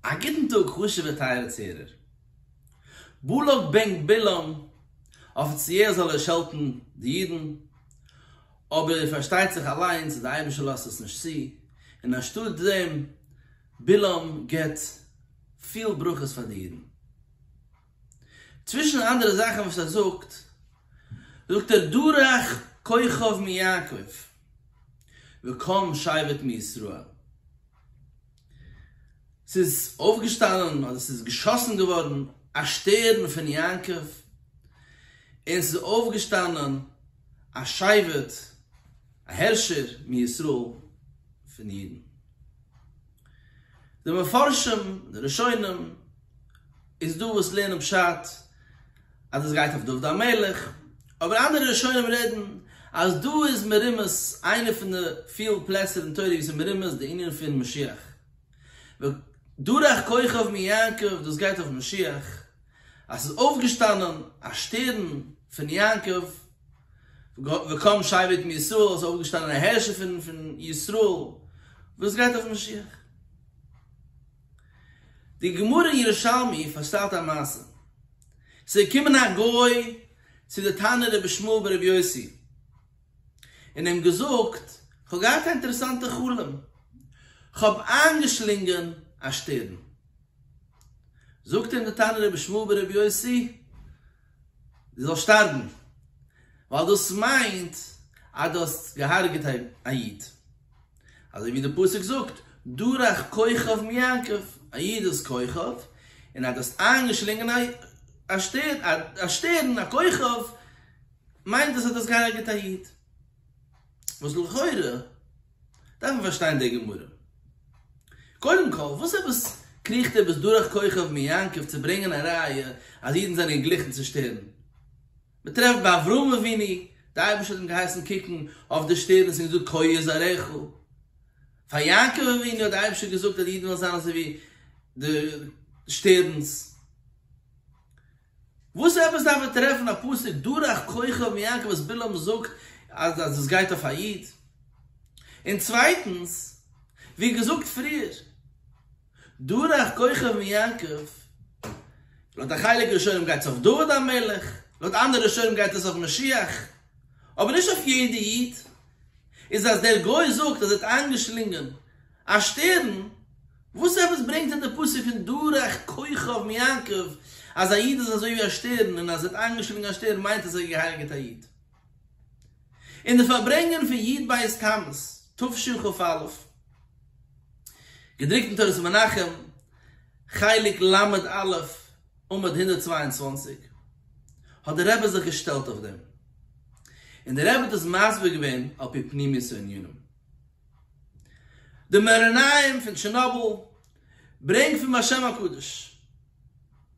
א גוטן טאג חשוב'ע טייערע צוהערער. בלק בן בלעם, אפיציעל זאל ער שעלטן די אידן, אבער פארשטייט זיך אליינס אז די אייבישטער לאזט עס נישט צו, און אנשטאט דעם, בלעם געבט פיל ברכות פאר די אידן. צווישן אנדערע זאכן וואס ער זאגט, זאגט ער דורך כוכב מיעקב וקם שבט מישראל. ס'איז אויפגעשטאנען, אדער ס'איז געשאסן געווארן, א שטערן פון יעקב, און ס'איז אויפגעשטאנען א שבט, א הערשער מישראל, פון די אידן. די מפרשים, די ראשונים, איז דא וואס לערנען פשט אז דאס גייט אויף דוד המלך, אבער אנדערע ראשונים רעדן אז דא איז מרומז איינע פון די פיל פלעצער אין תורה ווי ס'איז מרומז די ענין פון משיח ודרך כוכב מיעקב, דאס גייט אויף משיח אז ס'איז אויפגעשטאנען א שטערן פון יעקב וקם שבט מישראל, ס'איז אויפגעשטאנען א הערשער פון ישראל, דאס גייט אויף משיח. די גמרא אין ירושלמי פארשטייט א מעשה. ס'געקומען א גוי צו די תנא רבי שמואל ברבי יוסי און אים געזאגט, כ'האב געהאט א אינטערעסאנטע חלום, כ'האב איינגעשלינגען א שטערן. זאגט אים די תנא רבי שמואל ברבי יוסי, דו זאלסט שטארבן, ווייל דאס מיינט אז דו האסט געהארגעט א איד. אזוי ווי די פסוק זאגט, דורך כוכב מיעקב, א איד איז כוכב, און ער האט דאס איינגעשלינגען א שטערן, א שטערן, א כוכב, מיינט דאס אז דו האסט געהארגעט א איד. וואס לכאורה דארף מען פארשטיין די גמרא. קודם כל, וואס עפעס קריכט ער ביז דורך כוכב מיעקב צו ברענגען א ראיה אז אידן זענען געגליכן צו שטערן? מען טרעפט ביי אברהם אבינו, די אייבערשטער האט אים געהייסן קוקן אויף די שטערנס און געזאגט כה יהיה זרעך, פאר יעקב אבינו האט די אייבערשטער געזאגט אז די אידן וועלן זיין אזוי ווי די שטערנס, וואס עפעס דארף ער טרעפן א פסוק דורך כוכב מיעקב וואס בלעם זאגט אז דאס גייט אויף א איד? און צווייטנס, ווי געזאגט פריער, דורך כוכב מיעקב, לויט א חלק ראשונים גייט עס אויף דוד המלך, לויט אנדערע ראשונים גייט עס אויף משיח, אבער נישט אויף יעדע איד, איז אז דער גוי זאגט אז ער האט איינגעשלינגען א שטערן, וואס עפעס ברענגט אים דער פסוק פון דורך כוכב מיעקב אז א איד איז אזוי ווי א שטערן און אז ער האט איינגעשלינגען א שטערן מיינט אז ער האט געהייליגעט א איד? אין די פארברענגען פון י ט בית תמוז תשכ א, געדרוקט אין תורת מנחם, חלק ל א, עמוד הונדערט צוויי און צוואַנציק, האט דער רבי זיך געשטעלט אויף דעם, און דער רבי האט עס מסביר געווען על פי פנימיות הענינים. די מארנאים פון טשערנאבל ברענגט פון בשם הקדוש.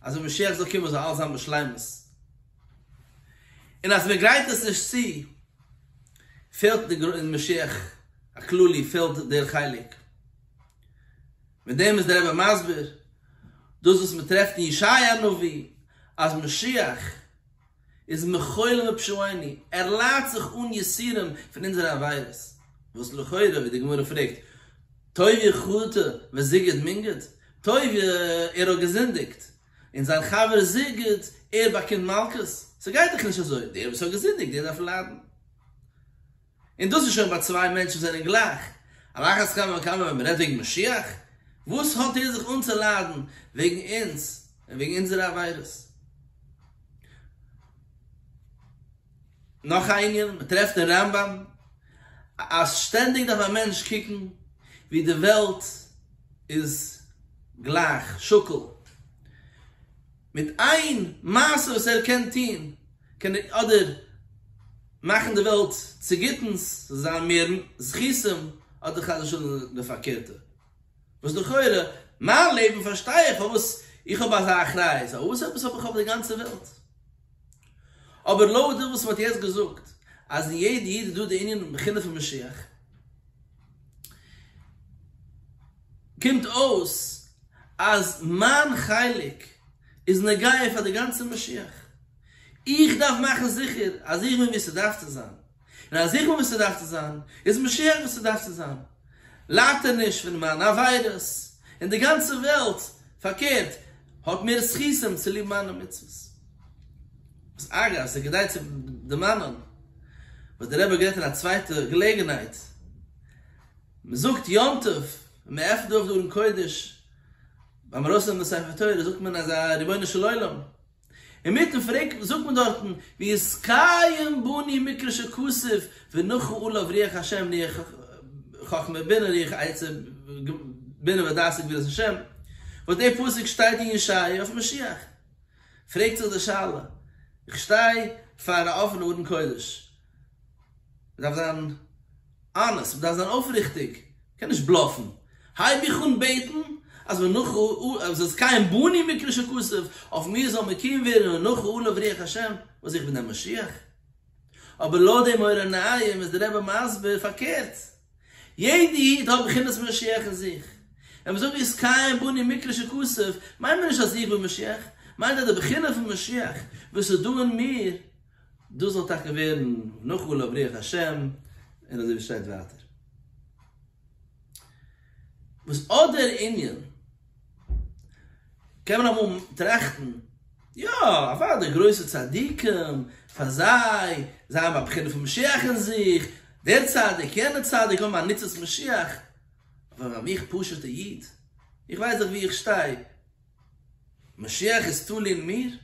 אז ווען משיח זאל קומען זאל אלעס זיין בשלימות, און אז מען גרייט עס נישט צו פעלט די גר אין משיח הכללי פעלט דער חלק, מיט דעם איז דער רבי מסביר דאס וואס מען טרעפט אין ישעיה הנביא אז משיח, איז מחול מפשעוני, ער ליידט זיך אן יסורים פון אונזערע עבירות, וואס לכאורה ווי די גמרא פרעגט טויב חטא וזיגד מינגד, טויב ער האט געזינדיגט, און זיין חבר זיגד ער באקומט מלקות, ס'גייט דאך נישט אזוי, דער וואס האט געזינדיגט דער דארף ליידן. און דאס איז שוין ביי צוויי מענטשן וואס זענען גלייך, על אחת כמה וכמה ווען מ'רעדט וועגן משיח, וואס האט ער זיך אנצוליידן וועגן אונז און וועגן אונזערע עבירות. נאך א ענין, מ'טרעפט אין רמב ם אז שטענדיג דארף א מענטש קוקן ווי די וועלט איז גלייך, שקול, מיט איין מעשה וואס ער קען טוהן קען ער אדער מאכן די וועלט צו גוטנס ס'זאל זיין מער זכותים אדער חס ושלום די פארקערטע וואס לכאורה מיין לעבן פארשטיי איך פארוואס איך האב אזא אחריות ווייל וואס עפעס האב איך אויף די גאנצע וועלט אבער לאור דעם וואס מען האט יעצט געזאגט אז אין יעדע איד איז דא די ענין בחינה פון משיח קומט אויס אז מיין חלק איז נוגע פאר די גאנצע משיח, איך דארף מאכן זיכער אז איך בין וואו ס'דארף צו זיין, און אז איך בין וואו ס'דארף צו זיין, איז משיח וואו ס'דארף צו זיין, לייטעניש פון מיינע עבירות, און די גאנצע וועלט פארקערט האט מער זכותים צוליב מיינע מצוות. וואס אגב ס'איז כדאי צו דערמאנען וואס דער רבי האט גערעדט אין א צווייטע געלעגנהייט, מ'זאגט יום טוב און מ'עפנט אויף די ארון קודש ביים ארויסנעמען די ספר תורה זאגט מען אזא רבונו של עולם, אינמיטן פרק זאגט מען דארטן ויסתיים בני מקרא שכסף ונחו עליו רוח השם רוח חכמה בינה רוח עצה בינה ודעת וגבורת השם, וואס די פסוק שטייט אין ישעיה אויף משיח, פרעגט זיך די שאלה, איך שטיי פאר א אפענע ארון קודש, מ'דארף זיין אנעסט, מ'דארף זיין אויפריכטיג, מ'קען נישט בלאפן. הייב איך אן בעטן אז מנח א זאל זכאים בנים מקרא שכסף, אויף מיר זאל מקים ווערן מנח א לב ריח ה', וואס איך בין דער משיח? אבער לויט דעם אור עיניים איז דער רבי מסביר פארקערט. יעדע איד האט בחינת משיח אין זיך. ווען מיר זאגן זכאים בנים מקרא שכסף, מיינט מען נישט אז איך בין משיח, מיינט אז די בחינה פון משיח וואס איז דא אין מיר, דאס זאל טאקע ווערן נאכאל אויף רוח השם, און אזוי ווי שטייט ווייטער. וואס אט דער ענין, קען מען אמאל טראכטן, יא, אוודאי גרויסע צדיקים, פאר זיי, זיי האבן א בחינה פון משיח אין זיך, דער צדיק, יענער צדיק האבן א ניצוץ משיח, אבער איך פשוט'ע איד, איך ווייס דאך וואו איך שטיי, משיח איז תלוי מיר?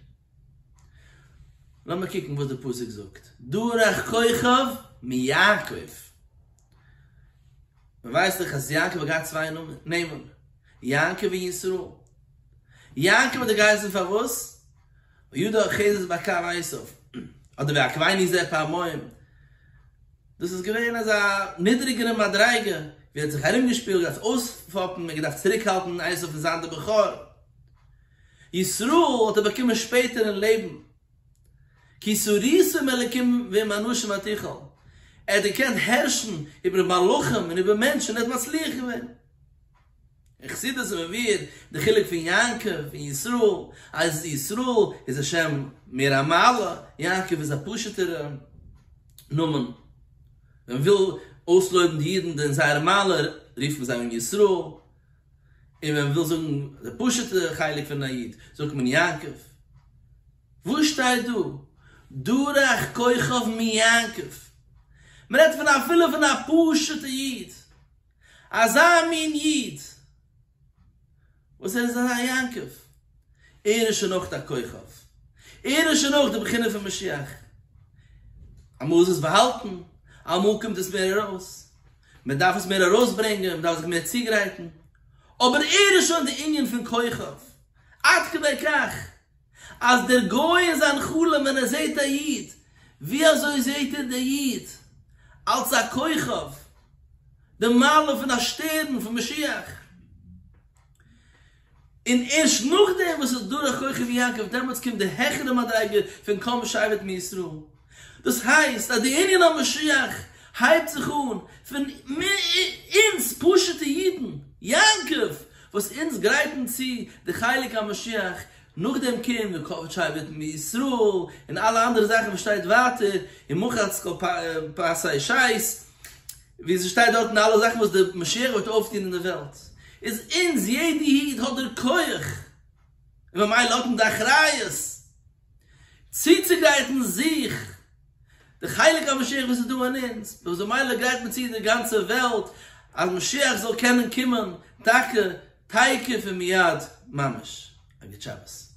לאמיר קוקן וואס די פסוק זאגט, דורך כוכב מיעקב. מען ווייסט דאך אז יעקב האט געהאט צוויי נעמען, יעקב און ישראל. יעקב האט ער געהייסן פארוואס? וידע אוחזת בקר עשיו, אדער ווי אקווייני ז ל פעמיים, דאס איז געווען אזא נידריגערע מדריגה, ווי ער האט זיך ארומגעשפילט, געדארפט אויספאפן, און געדארפט צוריקהאלטן עשיו פון זיין דער בכור. ישראל האט ער באקומען שפעטער אין לעבן, כי סריס ועם אלקים ועם אנשים אל תיכל, ער האט געקענט הערשן איבער מלאכים און איבער מענטשן, ער האט מצליח געווען. אין חסידות איז מעביר די חילוק פון יעקב און ישראל אז ישראל איז א שם מער א מעלה, יעקב איז א פשוטערע נאמען, ווען מ'וויל אויסלויבן די אידן אין זייער מעלה רופט מען זיי אן ישראל, און ווען מ'וויל זאגן די פשוטע חלק פון א איד זאגט מען יעקב. וואו שטייט דא דורך כוכב מיעקב? מ'רעדט פון אפילו פון א פשוטע איד אזא מין איד וואס ער איז אזא יעקב, ער איז שוין אויך א כוכב, ער איז שוין אויך די בחינה פון משיח, אמאל איז עס באהאלטן, אמאל קומט עס מער ארויס, מען דארף עס מער ארויסברענגען, מען דארף זיך מער צוגרייטן, אבער ער איז שוין די ענין פון כוכב, עד כדי כך. אז דער גוי אין זיין חלום ווען ער זעהט א איד, ווי אזוי זעהט ער די איד? אלס א כוכב, די מעלה פון א שטערן פון משיח. און ערשט נאכדעם וואס ס'איז דורך כוכב יעקב, דעמאלטס קומט די העכערע מדריגה פון קום שבט מישראל. דאס הייסט אז די ענין המשיח הייבט זיך אן פון אונז פשוטע אידן, יעקב, וואס אונז גרייטן צו די חלק המשיח, נאכדעם קומט ווען קאוויד שיידט מישראל און אלע אנדערע זאכן וואס שטייט ווייטער און מחץ כל פסי שייס ווי עס שטייט דארטן אלע זאכן וואס די משיח וועט אויפטון אין די וועלט איז אונז יעדע איד האט דער כח און ממילא האט מען די אחריות צוצוגרייטן זיך די חלק המשיח וואס איז דא אין אונז, דאס איז ממילא גרייט מען צו די גאנצע וועלט אז משיח זאל קענען קומען טאקע תיכף ומיד ממש. א גוט שבת.